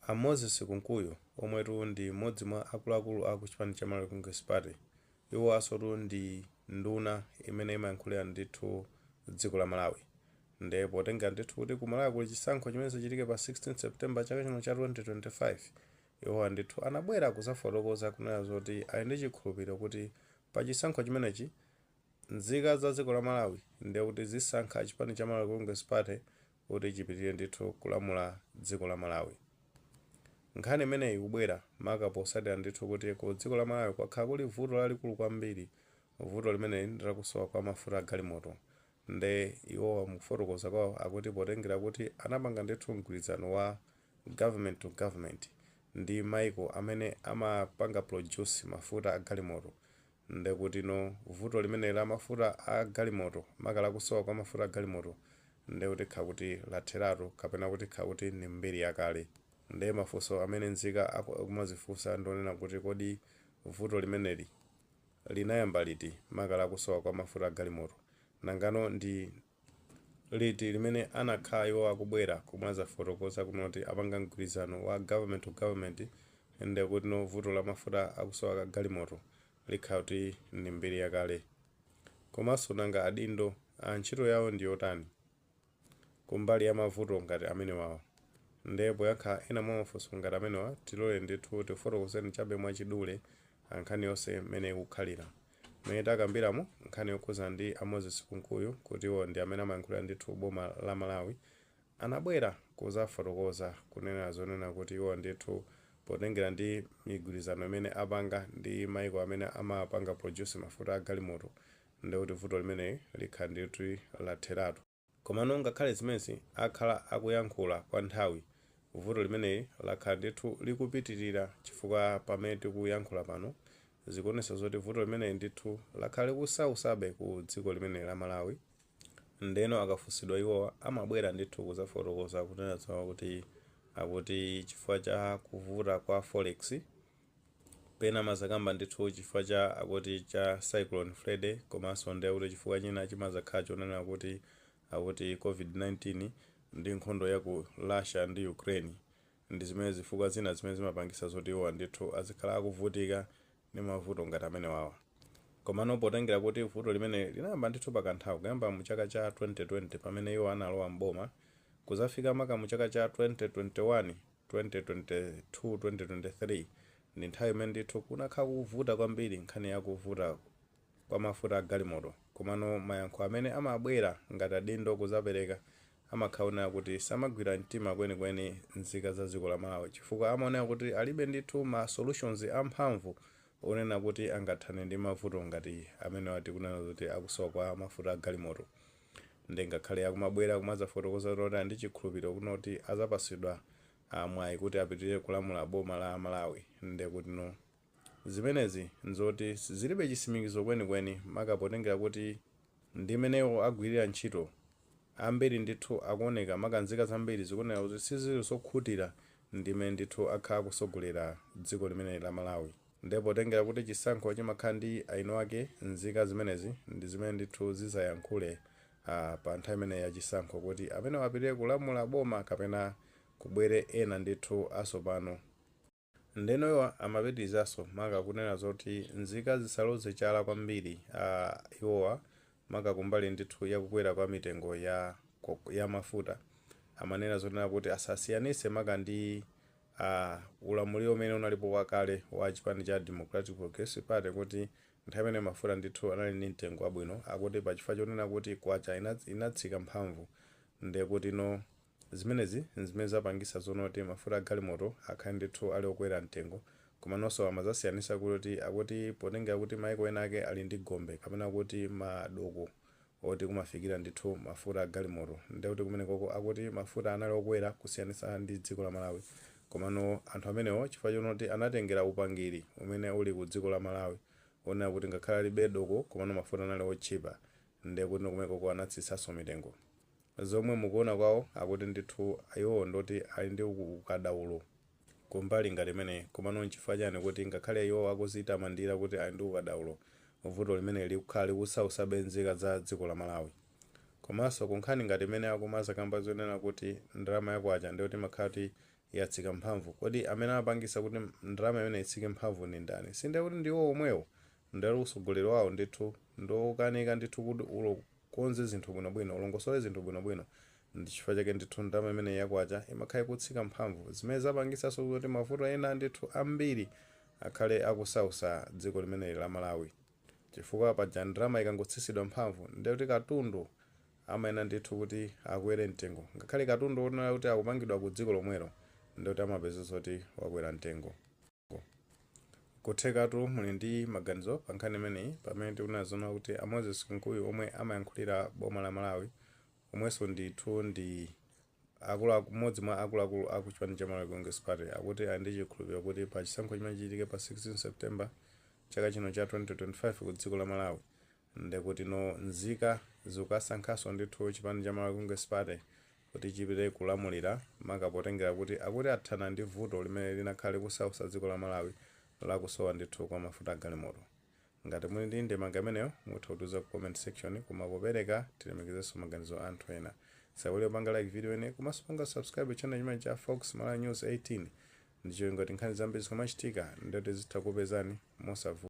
A Moses Kunkuyu omwetu ndi m'modzi mwa akuluakulu a ku chipani cha Malawi Congress Party iwowasotu ndi nduna imene imayankhulira ndithu dziko la Malawi nde potengera ndithu kuti ku Malawi kuli chisankho chimene chichitike pa 16 September chaka chino cha 2025 iwowa ndithu anabwera kuzafotokoza kunena zoti ali ndi chikhulupiliro kuti pa chisankho chimenechi nzika za dziko la Malawi ndekuti zisankha chipani cha Malawi Congress Party kuti chipitilire ndithu kulamula dziko la Malawi. Nkhani imeneyi ikubwera maka posatira ndithu kuti ku dziko la Malawi kwakhala kuli vuto lalikulu kwambiri, vuto limeneli ndi lakusowa kwa mafuta a galimoto nde iwowa mukufotokoza kwawo akuti potengera kuti anapanga ndithu mgwirizano wa government to government ndi maiko amene amapanga produce mafuta a galimoto ndekutino vuto limeneli la mafuta a galimoto maka lakusowa kwa mafuta a galimoto nde kuti likhala kuti latheratu kapena kuti likhala kuti ndi mbiri yakale nde mafunso amene nzika akumazifunsa ndi onena kuti kodi vuto limeneli linayamba liti maka lakusowa kwa mafuta a galimoto nangano ndi liti limene anakhala iwo akubwera kumazafotokoza kunena zoti apanga mgwirizano wa government to government ndekutino vuto la mafuta akusowa ka galimoto likhala kuti ndi mbiri yakale komanso nanga adindo ntchito yawo ndi yotani kumbali ya mavuto ngati amenewawa nde poyankha ena mwa mafunso ngati amenewa tilole ndithu tikufotokozeni chabe mwachidule nkhani yonse mmene ikukhalira Mmene takambiramu nkhani yokhudzana ndi a Moses Kunkuyu kuti iwo ndi amene amayankhulira ndithu boma la Malawi, anabwera kuzafotokoza kunena zonena kuti iwo ndithu potengera ndi migwirizano imene apanga ndi maiko amene amapanga produce mafuta a galimoto ndekuti vuto limeneli likhala ndithu latheratu. Komano ngakhale zimenezi akhala akuyankhula kwa nthawi, vuto limeneli lakhala ndithu likupitirira chifukwa pamene tikuyankhula pano zikuonetsa zoti vuto limeneli ndithu lakhala likusausabe ku dziko limeneli la Malawi ndeno akafunsidwa iwowa amabwera ndithu kuzafotokoza kunena zonena kuti akuti chifukwa cha kuvuta kwa Forex Pena amazakamba ndithu chifukwa cha akuti cha Cyclone Freddy komanso ndi akuti chifukwa china chimazakhala chonena kuti akuti covid 19 ndi nkhondo ya ku Russia ndi Ukraine ndi zimene zifukwa zina zimene zimapangisa zoti iwowa ndithu azikhala akuvutika ndi mavuto ngati amenewawa. Komano potengera kuti vuto limeneli linayamba ndithu pa kanthawi kuyamba mu chaka cha 2020 pamene iwo analowa m'boma kuzafika maka mu chaka cha 2021, 2022 2023 ndi nthawi imene ndithu kunakhala kukuvuta kwambiri nkhani ya kuvuta kwa mafuta a galimoto komano mayankho amene amabwera ngati adindo kuzapereka amakhala onena kuti samagwira mtima kwenikweni nzika za dziko la Malawi chifukwa amaoneka kuti alibe ndithu ma solutions a mphamvu onena kuti angathane ndi mavuto ngati amenewa tikunena zoti a kusowa kwa mafuta a galimoto nde ngakhale akumabwera kumazafotokoza kuti ali ndi chikhulupiliro chonoti azapasidwa mwayi kuti apitilire kulamula boma la Malawi ndekutno zimenezi nzoti zilibe chisimikizo kwenikweni maka potengera kuti ndimene iwo agwilira ntchito ambiri ndithu akuoneka maka nzika zambiri zikuoneka kuti sizili zokhutira ndimene ndithu akhala akusogolera dziko limeneli la Malawi nde potengera kuti chisankho chimakhala ndi eni ake nzika zimenezi ndi zimene ndithu zizayankhule pa nthawi imeneyi ya chisankho kuti amenewa apitire kulamula boma kapena kubwere ena ndithu asopano ndeno iwo amapitilizaso maka kunena zoti nzika zisaloze chala kwambiri iwowa maka kumbali ndithu ya kukwera kwa mitengo ya mafuta, amanena zonena kuti asasiyanitse maka ndi a ulamuliro umene unalipo wakale wa chipani cha Democratic Progressive Party kuti nthawi imeneyo mafuta ndithu anali ndi mtengo wabwino. Akuti pa chifukwa chonena kuti kwacha inatsika mphamvu ndekutino Zimenezi n'zimene zapangitsa zonena kuti mafuta a galimoto akhale ndithu ali okwera mtengo. Komanonso amadzasiyanitsa kuti akuti potengera kuti mayiko enaake ali ndi gombe kapena kuti madoko oti kumafikira ndithu mafuta a galimoto ndiye kuti kumenekoko akuti mafuta anali okwera kusiyanitsa ndi dziko la Malawi. Komano anthu amenewo chifukwa chonena kuti anatengera upangiri umene uli ku dziko la Malawi wonena kuti ngakhale alibe doko komano mafuta anali otchipa ndiye kutino kumenekoko anatsitsanso mitengo. zomwe mukuona kwawo akuti ndithu iwowo ndoti ali ndi ukadaulo kumbali ngati imeneyi komano nchifukwa chani kuti ngakhale iwowo akuzitamandira kuti ali ndi ukadaulo vuto limeneli likukhala likusautsabe nzika za dziko la Malawi komanso kunkhani ngati imene akumazakamba zonena kuti ndalama ya kwacha ndiyoti imakhala kuti yatsika mphamvu kodi amene amapangisa kuti ndalama imeneyi itsike mphamvu ndi ndani sindiye kuti ndi iwowo omwewo ndiyoti usogoleri wawo ndithu ndiwokanika ndithu kuti ulo Ukonze zinthu bwinobwino. Ulongosole zinthu bwinobwino. Ndi chifukwa chake ndithu ndalama imeneyi ya kwacha imakhala ikutsika mphamvu, zimene zapangitsanso zoti mavuto ena ndithu ambiri akhale akusausa dziko limeneli la Malawi. Chifukwa paja ndalama ikangotsitsidwa mphamvu, ndiye kuti katundu amayenera ndithu kuti akwere mtengo. Ngakhale katundu wonena kuti akupangidwa ku dziko lomwelo, ndiye kuti amapezeka zoti wakwera mtengo. Nkuthekatu muli ndi maganizo pa nkhani imeneyi pamene tikunena zoona kuti a Moses Kunkuyu omwe amayankhulira boma la Malawi omwenso ndithu ndi mmodzi mwa akuluakulu a ku chipani cha Malawi Congress Party akuti ali ndi chikhulupiriro kuti pa chisankho chimene chichitike pa 16 September chaka chino cha 2025 ku dziko la Malawi Ndekutino nzika zikukasankhanso ndithu chipani cha Malawi Congress Party kuti chipitirize kulamulira maka potengera kuti akuti athana ndi vuto limene linakhala likusausa dziko la Malawi lakusowa ndithu kwa mafuta agalimoto. Ngati muli ndi ndemanga imeneyo mutha kutiuza ku comment section koma popereka tilemekezenso maganizo aanthu ena. Tisaiwale kupanga like video imeneyi komanso kupanga subscribe channel chimenechi cha Fox Malawi News 18 ndicholinga kuti nkhani zambiri zikamachitika ndithu zitha kukupezani mosavuta.